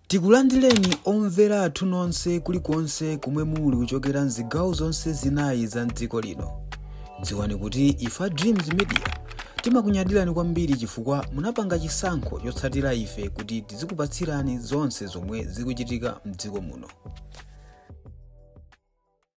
Tikulandireni omvera athu nonse kulikonse komwe muli kuchokera mzigawo zonse zinayi za mdziko lino. Dziwani kuti ife a Dreams Media timakunyadirani kwambiri chifukwa munapanga chisankho chotsatira ife kuti tizikupatsirani zonse zomwe zikuchitika mdziko muno.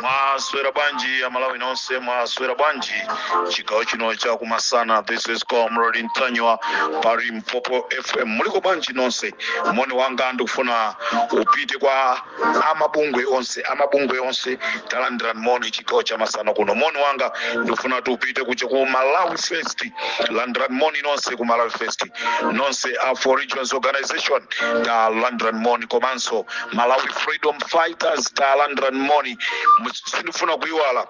mwaswera bwanji a Malawi nonse mwaswera bwanji chigawo chino cha kumasana this is comrade ntanyiwa pa limpopo fm muliko bwanji nonse moni wanga ndikufuna upite kwa amabungwe onse amabungwe onse talandirani moni chigawo cha masana kuno moni wanga ndikufuna kuti upite kuja ku malawi first landirani moni nonse ku malawi first nonse a four regions organization talandirani moni komanso malawi freedom fighters talandirani moni sindifuna kuiwala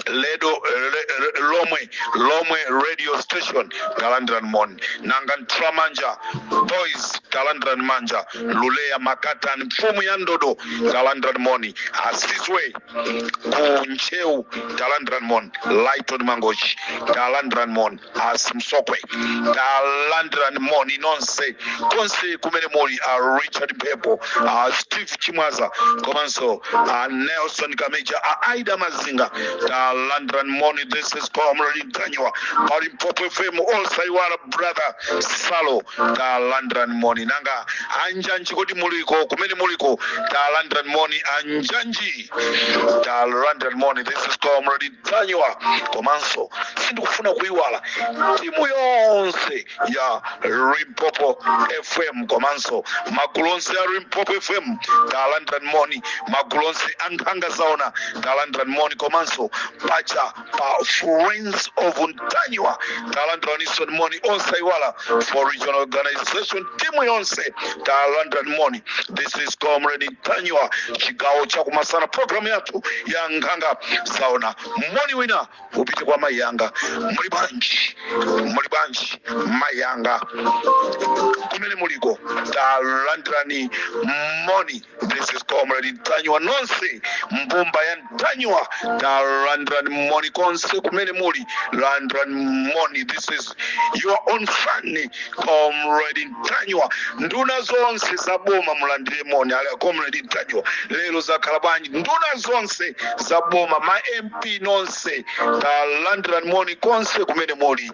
ledo le, le, lomwe lomwe radio station talandirani moni nanga ntramanja boys talandirani manja lule ya makatani mfumu ya ndodo talandirani moni asizwe ku ntcheu talandirani moni lighton mangochi talandirani moni a simsokwe talandirani moni nonse konse kumene muli a richard pepo a steve chimwaza komanso a nelson kameja a aida mazinga talandirani moni this is comrade ntanyiwa pa limpopo fm osaiwala brother salo talandirani moni nanga anjanji kodi muliko kumene muliko talandirani moni anjanji talandirani moni this is comrade ntanyiwa komanso sindikufuna kuiwala timu yonse ya limpopo fm komanso magulu onse a limpopo fm talandirani moni magulu onse a nkhanga zaona talandirani moni komanso pacha pa friends of ntanyiwa talandiraninso moni osaiwala four regional organization timu yonse talandirani moni this is comrade ntanyiwa chigawo chakumasana programu yathu ya nkhanga zaona moni wina upite kwa mayi yanga muli bwanji muli bwanji mayi yanga kumene muliko talandirani moni This is Comrade Ntanyiwa nonse mbumba ya Ntanyiwa talandirani moni konse kumene muli landirani moni this is your own fan Comrade Ntanyiwa nduna zonse za boma mulandire moni ala Comrade Ntanyiwa lero zakhala bwanji nduna zonse za boma ma MP nonse talandirani moni konse kumene muli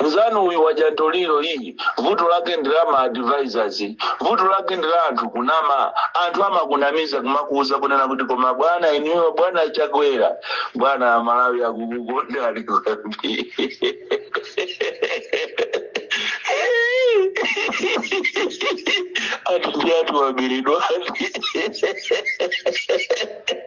Nzanuyu wadya ntoliro iyi vuto lake ndi la ma advisors vuto lake ndi la anthu kunama anthu amakunamiza kumakuuza kunena kuti koma bwana inuyo bwana achakwera bwana amalawi akukukondani kwambiri ati anthu waberedwani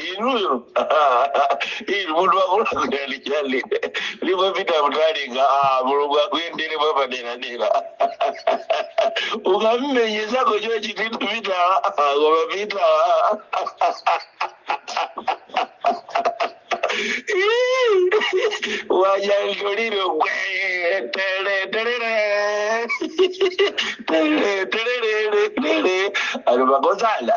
inuyo inu munthu wakulazikalichali limapita mutalinga ah, mulungu akuyendereni mwapaderadera ukammenya nzako chochitithu pitala koma pitala wadya ntoliro gwe tele telele tele telele tele ali makosala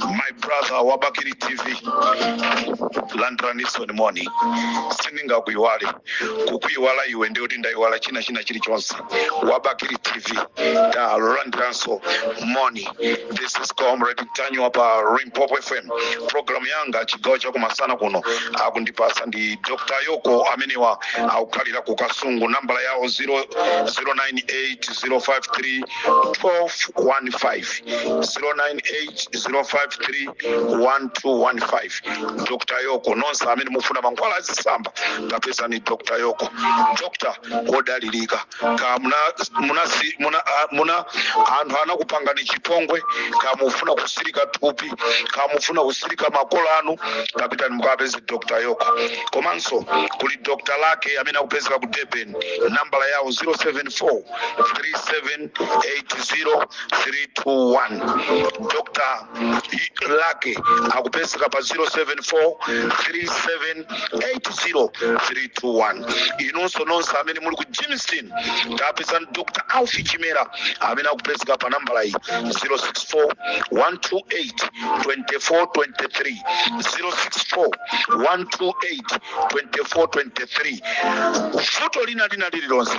my brother wa bakiri tv landiraninso moni sindingakuiwale kukuiwala iwe ndiye kuti ndaiwala china china chilichonse wa bakiri tv talandiraninso moni this is comrade ntanyiwa pa limpopo fm programu yanga chigawo chakum'masana kuno akundipasa ndi dr yoko amenewa akukhalira ku kasungu nambala yawo 09805 1215 dr yoko nonse amene mufuna mankhwala azisamba kapezeni dr yoko dr wodalirika kaya muna, muna, si- muna, a- muna anthu anakupangani chipongwe kaya mufuna kutsirika thupi kaya mufuna kutsirika makomo anu kapitani mukawapeze dr yoko komanso kuli dr lake amene akupezeka ku durban nambala yawo 074 3780321 dr lake akupezeka pa 074378031 inunso nonse amene muli ku germiston kapezeni dr alufu chimera amene akupezeka pa nambala iyi 064128283 064128283 vuto lina lina lililonse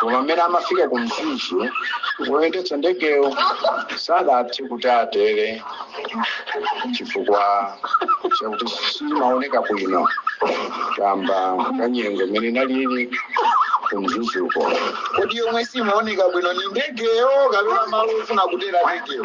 koma mmene amafika ku mzuzu woyendetsa ndegeyo sadathe kuti atere chifukwa chakuti siimaoneka bwino kamba ka nyengo imene inalipo ku mzuzuko kodi yomwe siimaoneka bwino ndi ndegeyo kapena malo ofuna kutera ndegeyo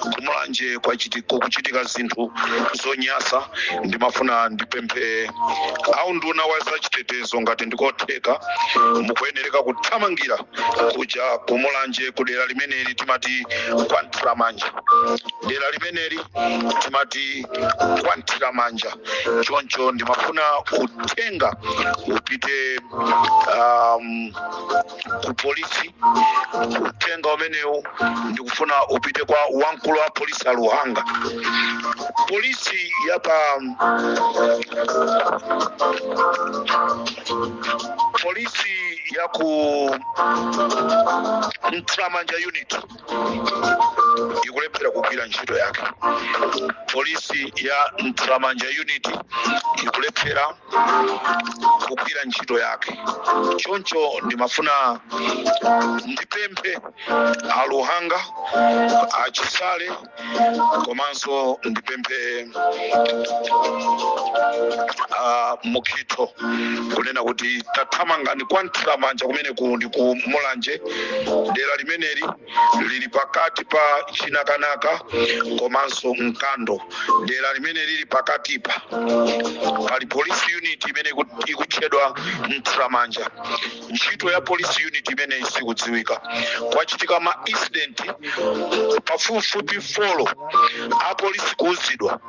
ku mulanje kwachiti- kukuchitika zinthu zonyasa ndimafuna ndipemphe aunduna wa zachitetezo ngati ndikotheka mukuyenereka kuthamangira kuja ku mulanje ku dera limeneli timati kwa mthiramanja dera limeneli timati kwa mthiramanja choncho ndimafuna uthenga upite um, ku polisi uthenga umenewu ndikufuna upite kwa wamkulu wa polisi a luhanga polisi ya pa polisi ya ku mthiramanja unit ikulephera kugwira ntchito yake polisi ya mthiramanja unit ikulephera kugwira ntchito yake choncho ndimafuna ndipemphe a luhanga a chisale komanso ndipemphe a mukhito kunena kuti tathamangani kwa mthiramanja kumene ku ndi ku mulanje dera limeneli lili pakati pa chinakanaka komanso mkando dera limene lili pakatipa pali police unit imene iku- ikutchedwa mthiramanja ntchito ya police unit imene isikudziwika kwachitika ma incident pafupifupi folo apolisi kuuzidwa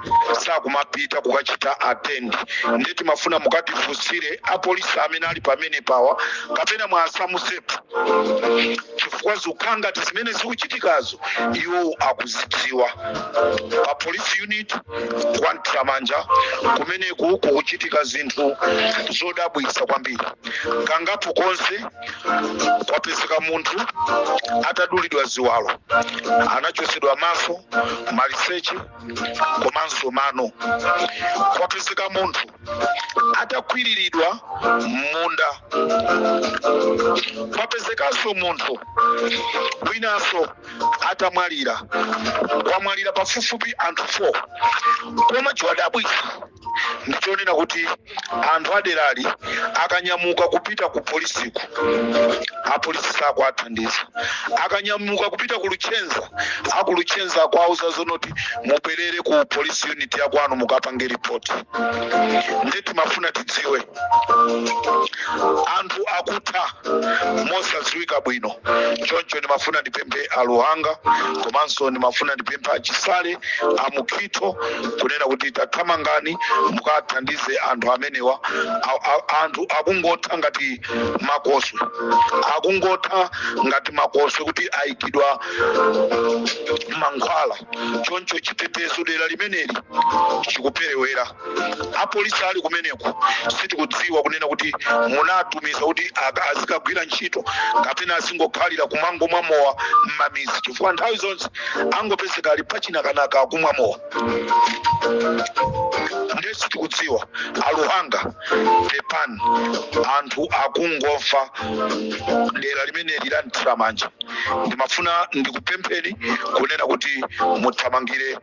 sakumapita kukachita attend ndiye timafuna mukatifunsire apolisi amene ali pamenepawa kapena mwasamusepo chifukwa zikukhala ngati zimene zikuchitikazo iwo akuzidziwa pa police unit kwa mthiramanja kumeneku kukuchitika zinthu zodabwitsa kwambiri kangapo konse kwapezeka munthu atadulidwa ziwalo anachosedwa maso maliseche komanso mano kwapezeka munthu atakwiriridwa m'munda kwapezekanso munthu winanso atamwalira kwamwalira pafupifupi anthu 4 koma chodabwitsa ndichonena kuti anthu aderali akanyamuka kupita ku polisiku apolisi sakuwathandiza akanyamuka kupita ku luchenza akuluchenza akuwauza zonoti mubwerere ku polisi unit yakwanu mukapange ripoti nde timafuna tidziwe anthu akutha mosadziwika bwino choncho ndimafuna ndipemphe aluhanga komanso ndimafuna ndipemphe achisale amukhitho kunena kuti tathamangani mukathandize anthu amenewa A- a- anthu akungotha ngati makoswe akungotha ngati makoswe kuti ayikidwa mankhwala choncho chitetezo dera limeneli chikuperewera apolisi ali kumeneko sitikudziwa kunena kuti munatumiza kuti aka- azikagwira ntchito kapena azingokhalira kumangomwa mowa m'mamizi chifukwa nthawi zonse angopezeka ali pachinakanaka akumwa mowa ndiye sitikudziwa aluhanga pepani anthu akungofa dera limeneli la mthiramanja ndimafuna ndikupempheni kunena kuti muthamangire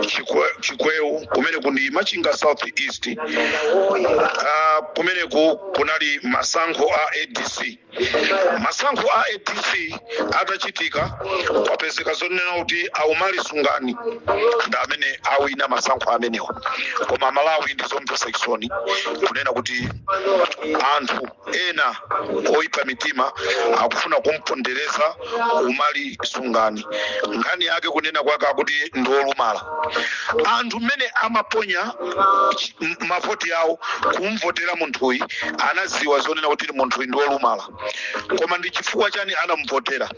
Chikwe- chikweu kumeneku ndi machinga south east uh, kumeneku kunali masankho a adc masankho a adc atachitika kwapezeka zonena kuti aumali sungani ndi amene awina masankho amenewa koma malawi ndi zomvetsa chisoni kunena kuti anthu ena oyipa mitima akufuna kumpondereza umali sungani nkhani yake kunena kwake akuti ndi olumala anthu mmene amaponya chi- m- mavoti awo kumvotera munthuyi anaziwa zonena kuti munthuyi ndi olumala koma ndi chifukwa chani anamuvotera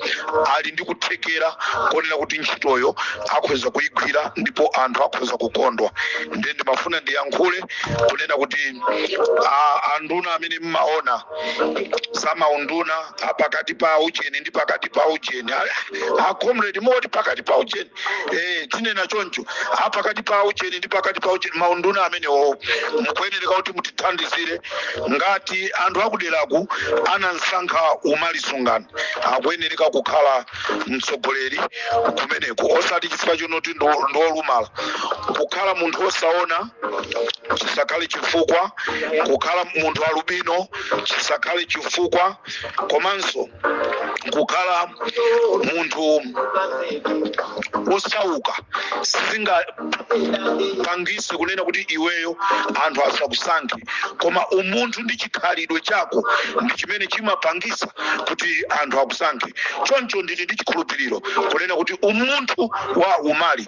ali ndi kuthekera konena kuti ntchitoyo akhoza kuyigwira ndipo anthu akhoza kukondwa ndiye ndimafuna ndiyankhule kunena kuti a- anduna amene mmaona za maunduna a pakati pa ujeni ndi pakati pa ujeni A- a comrade moti pakati pa ujeni eh tinena choncho a pakati pa ujeni ndi pakati pa ujeni maunduna amenewo mukuyenereka kuti mutithandizire ngati anthu akuderaku anamsankha umali sungani akuyenereka kukhala mtsogoleri kumeneko osati chifukwa chonoti ndi ndi olumala kukhala munthu osaona chisakhale chifukwa kukhala munthu alubino chisakhale chifukwa komanso kukhala munthu osauka sizingapangise kunena kuti iweyo anthu asakusankhe koma umunthu ndi chikhalidwe chako ndi chimene chimapangisa kuti anthu akusankhe choncho ndili ndi chikhulupiriro kunena kuti umunthu wa umali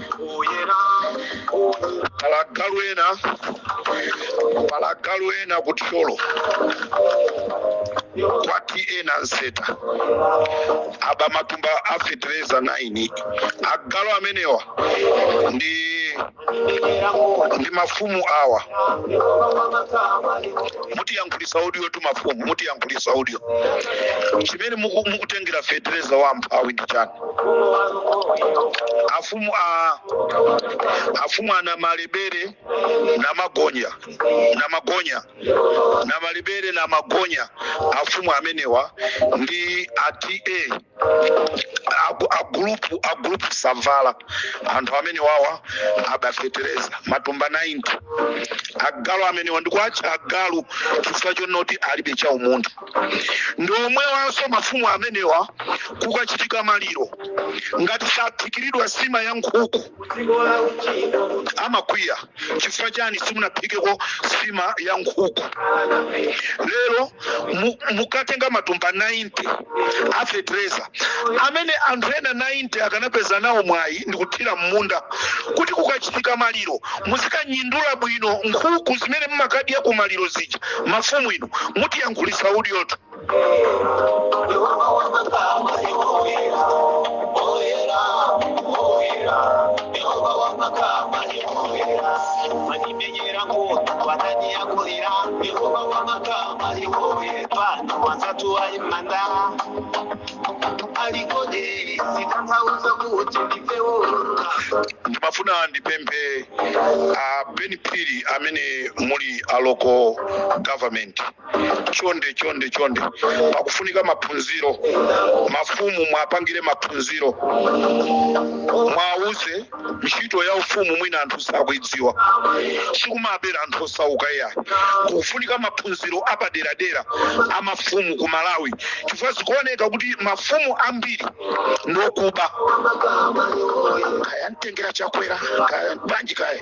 pali agalu ena pali agalu ena ku thyolo kwa ta nanseta aba matumba a fetereza 90 agalu amenewa ndi ndi mafumu awa mutiyankhulisa udyotu mafumu mutiyankhulisa udyo chimene muku- mukutengera fetereza wa mphawi ndi chani afumu a afumu a namalebere namagonya namagonya namalebere namagonya afumu amenewa ndi ata agu- agulupu agulupu savala anthu amene wawa aba fetereza matumba 90 agalu amenewa ndikuwatcha agalu chifukwa chonoti alibe cha umunthu ndi omwewanso mafumu amenewa kukachitika maliro ngati saphikiridwa nsima ya nkhuku amakwiya chifukwa chani simunaphikeko nsima ya nkhuku lero mu- mukatenga matumba 90 a fetereza amene anthu ena 90 akanapeza nawo mwayi ndikuthira m'munda kuti kukachitika maliro muzikanyindula bwino nkhuku zimene mmakadya ku maliro zija mafumu inu mutiyankhulisa udyotu Yehova wa makamu, Yehova pano watatu aimanda alikodi sitanthauza kuti ndipewoloka ndimafuna ndipemphe a ben phiri amene muli a local government chonde chonde chonde pakufunika maphunziro mafumu mwapangire maphunziro mwauze ntchito ya ufumu mwina anthu sakuidziwa sikumabera anthu osauka iyayi kufunika maphunziro apaderadera a mafumu ku malawi chifukwa zikuoneka kuti mafumu ambiri ndiokuba kaya mtengera chakwera kaya bwanji kaya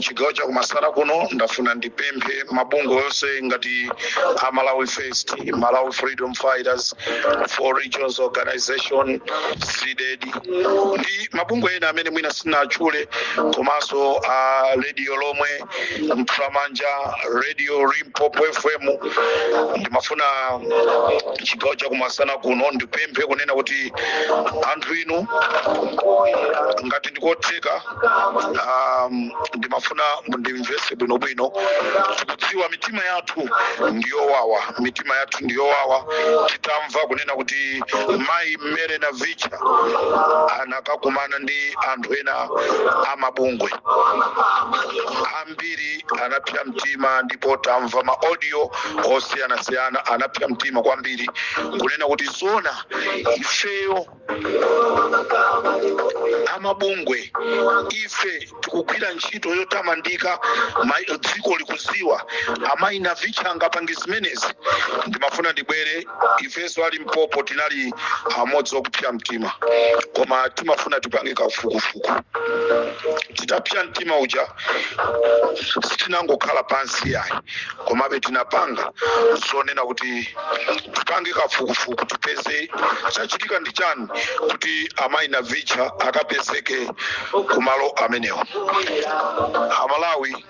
chigawo chakumasana kuno ndafuna ndipemphe mabungwe onse ngati a malawi first malawi freedom fighters four regions organization cdedi ndi mabungwe ena amene mwina sinatchule komanso a radio lomwe mtramanja radio limpopo fm ndimafuna chigawo chakumasana kuno ndipemphe kunena kuti anthu inu ngati ndikotheka um, ndimafuna mundimvese bwinobwino tikudziwa mitima yathu ndiyowawa mitima yathu ndiyowawa titamva kunena kuti mayi mary navicha anakakumana ndi anthu ena amabungwe ambiri anapsa mtima ndipo tamva ma audio osiyanasiyana anapsa mtima kwambiri kunena kuti zona ifeyo amabungwe ife tikugwira ntchito yotamandika ma- dziko likuziwa amayi navicha angapange zimenezi ndimafuna ndibwere ifenso a limpopo tinali amodzi okupsa mtima koma timafuna tipange kafukufuku titapsa mtima uja sitinangokhala pansi yayi komabe tinapanga zonena kuti tipange kafukufuku tipeze chachitika ndi chani kuti amayi navicha akapezeke kumalo amenewo amalawi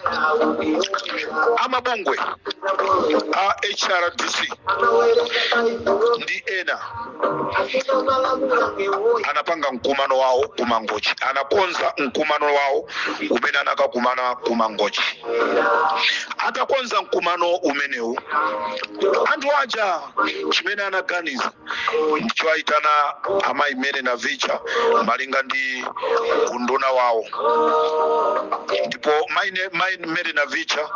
amabungwe a hrdc ndi ena anapanga mkumano wawo ku mangochi anakonza mkumano wawo umene anakakumana ku mangochi atakonza mkumano umenewu anthu aja chimene anaganiza ndi chowayitana amayi mary navicha malinga ndi unduna wawo ndipo mayi mayi mary navicha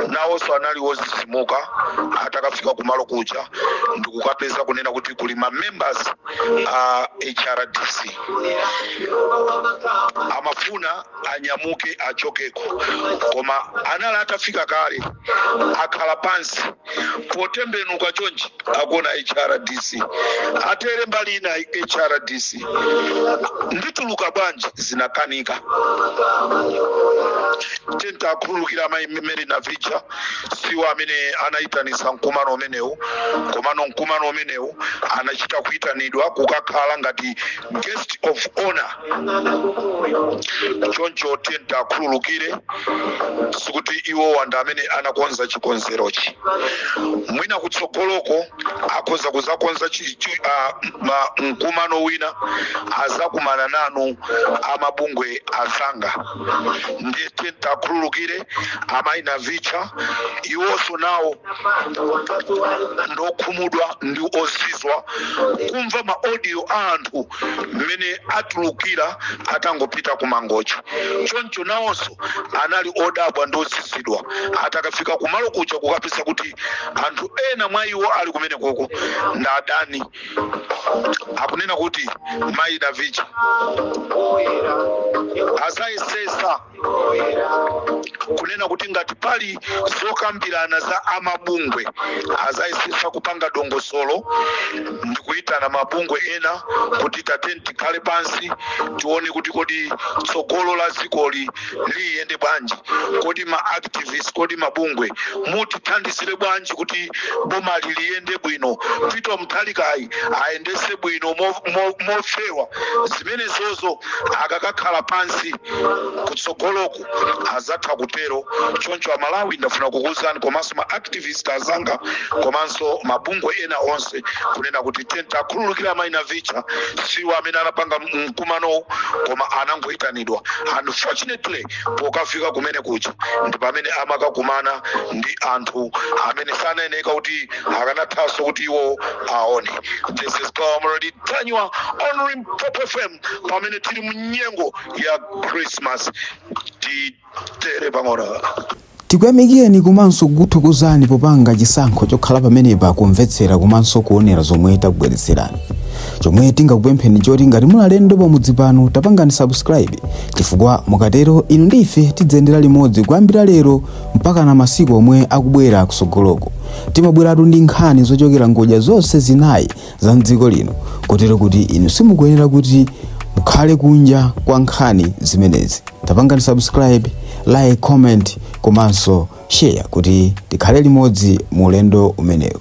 nawonso anali wozizimuka atakafika kumalo kuja ndikukapeza kunena kuti kuli ma members a hrdc amafuna anyamuke achokeko koma anali atafika kale akhala pansi potembenuka chonchi akuona hrdc atere mbali ina hrdc ndituluka bwanji zinakanika tiyeni tiwakhululukire amayi mary navicha siwo amene anayitanisa mkumano umenewu komano mkumano umenewu anachita kuyitanidwa kukakhala ngati guest of honor choncho tiyeni tiwakhululukire sikuti iwowa ndi amene anakonza chikonzerochi mwina kutsogoloko akhoza kuzakonza chi- chi- ah, ma- mkumano wina azakumana nanu amabungwe azanga ndiye tiyeni tiwakhululukire amayi navicha iwonso nawo ndokhumudwa ndi ozizwa kumva ma audio a anthu mmene atulukira atangopita ku mangochi choncho nawonso anali odabwa ndi ozizidwa atakafika kumalo kuja kukapeza kuti anthu ena mwa iwo ali kumenekoko ndi adani akunena kuti mayi Navicha azayesesa kunena kuti ngati pali zokambirana za amabungwe azayesesa kupanga dongosolo ndi kuyitana mabungwe ena kuti tateni tikhale pansi tione kuti kodi tsogolo la dzikoli liyende bwanji kodi ma activist kodi mabungwe mutithandizire bwanji kuti boma liliyende bwino Peter Mutharikayi ayendese bwino mofewa zimenezozo akakakhala pansi kutsogoloku azatha kutero choncho amalawi ndafuna kukuwuzani komanso ma activist azanga komanso mabungwe ena onse kunena kuti tatiyeni tiwakhululukire amayi Navicha siwo amene anapanga mkumanowu koma anangoyitani dwa unfortunately pokafika kumene kuja ndi pamene amakakumana ndi anthu amene sanayeneka kuti akanathanso kuti iwo aone this is comrade Ntanyiwa on Limpopo fm pamene tili mu nyengo ya christmas titere pang'ono Tikuyamikileni komanso kukuthokozani popanga chisankho chokhala pamenepa kumvetsera komanso kuonera zomwe takubweretserani. Chomwe tingakupempheni nchoti ngati muli alendo pamudzi pano tapangani subscribe chifukwa mukatero inu ndi ife tidziyendera limodzi kuyambira lero mpakana masiku omwe akubwera kusogoloku. Timabweratu ndi nkhani zochokera ngodya zonse zinayi za mdziko lino kotero kuti inu simukuyenera kuti mukhale kunja kwa nkhani zimenezi tapangani subscribe like comment komanso share kuti tikhale limodzi mu ulendo umenewu